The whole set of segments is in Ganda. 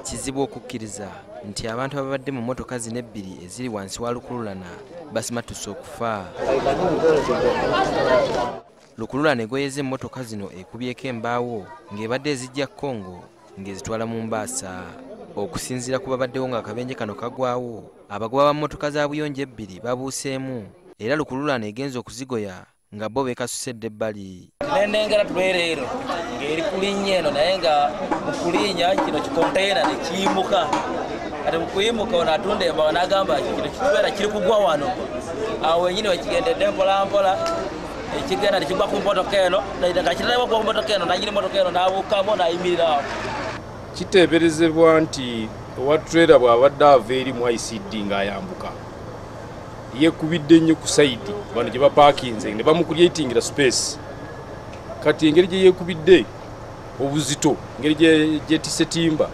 kizibu okukkiriza nti abantu ababadde mu motoka zino ebbiri eziri wansi wa lukululana basimatuse okufa lukululana egoyeza emmotoka zino ekubyeko embaawo ng'ebadde ezijja congo ng'ezitwala mu mbaasa okusinziira ku babaddewo ng'akabenje kano kagwawo abagoba ba mmotoka za buyonjo ebbiri babuuseemu era lukululana egenza okuzigoya nga bo bekasuse dda ebbali nendengera tulwereero ng'eri kulinnya eno naye nga mukulinya kino kikonteyina nekiyimuka kati mukuyimuka ono atunda embawa nagamba kino kitubeera kiri kugwa wano awo wenyini wekigendedde mpolampola ekigenda nekigwa ku motoka eno nga kitalaba kuwa ku motoka eno nanyini motoka eno nabuukamu nayimirira awo kiteeberezebwa nti owa trera bw'abadde ava eri mu icd ng'ayambuka yekubidde nnyo ku sayidi bano gye bapaakinze ne bamukulyatingira space kati engeri gye yekubidde obuzito engeri gyetise timba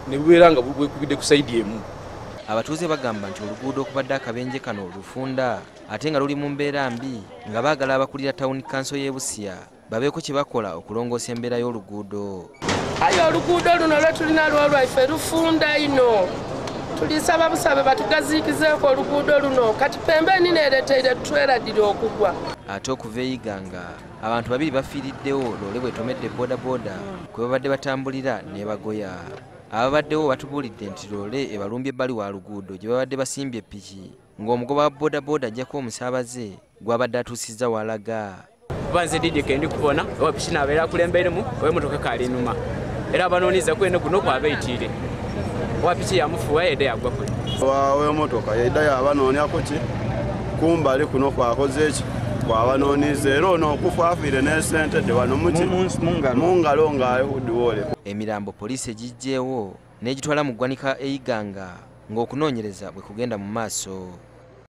ne bubeera nga bwekubidde ku sayidi emu abatuuze bagamba nti oluguudo okubadde akabenje kano olufunda ate nga luli mu mbeera mbi nga baagala abakulira tawuni kanso y'ebusiya babeeko kye bakola okulongoosa embeera y'oluguudo aye oluguudo luno lwe tulina lwolwaife lufunda ino tulisaba busabe batugaziikizeeko oluguudo luno kati pembe enina ereteire tutweradire okugwa ate okuva eyiganga abantu babiri bafiiriddewo loole bwetomedde bodaboda kwe babadde batambulira nebagoya ababaddewo batubuulidde nti loole ebalumbye ebbali wa luguudo gye babadde basimbye piki ng'omugoba wa bodaboda ajjako omusaabaze gw'abadde atuusizza walaga kuba nze didi kendi kubona oba piki nabeera akulemberemu oba emotoka ekaali enuma era abanoonyeza kwene guno kwabeitiire oba piki yamufuwa yedda yagwa kwe wawemotoka yedda yabanoonyako ki kumbali kuno kwakoze eki kwabanoniza era ono okufa afiire n'esente de wano mungalo ng'ayihudiwole emirambo poliisi egijjeewo n'egitwala mu ggwanika e Iganga ng'okunoonyereza bwe kugenda mu maaso.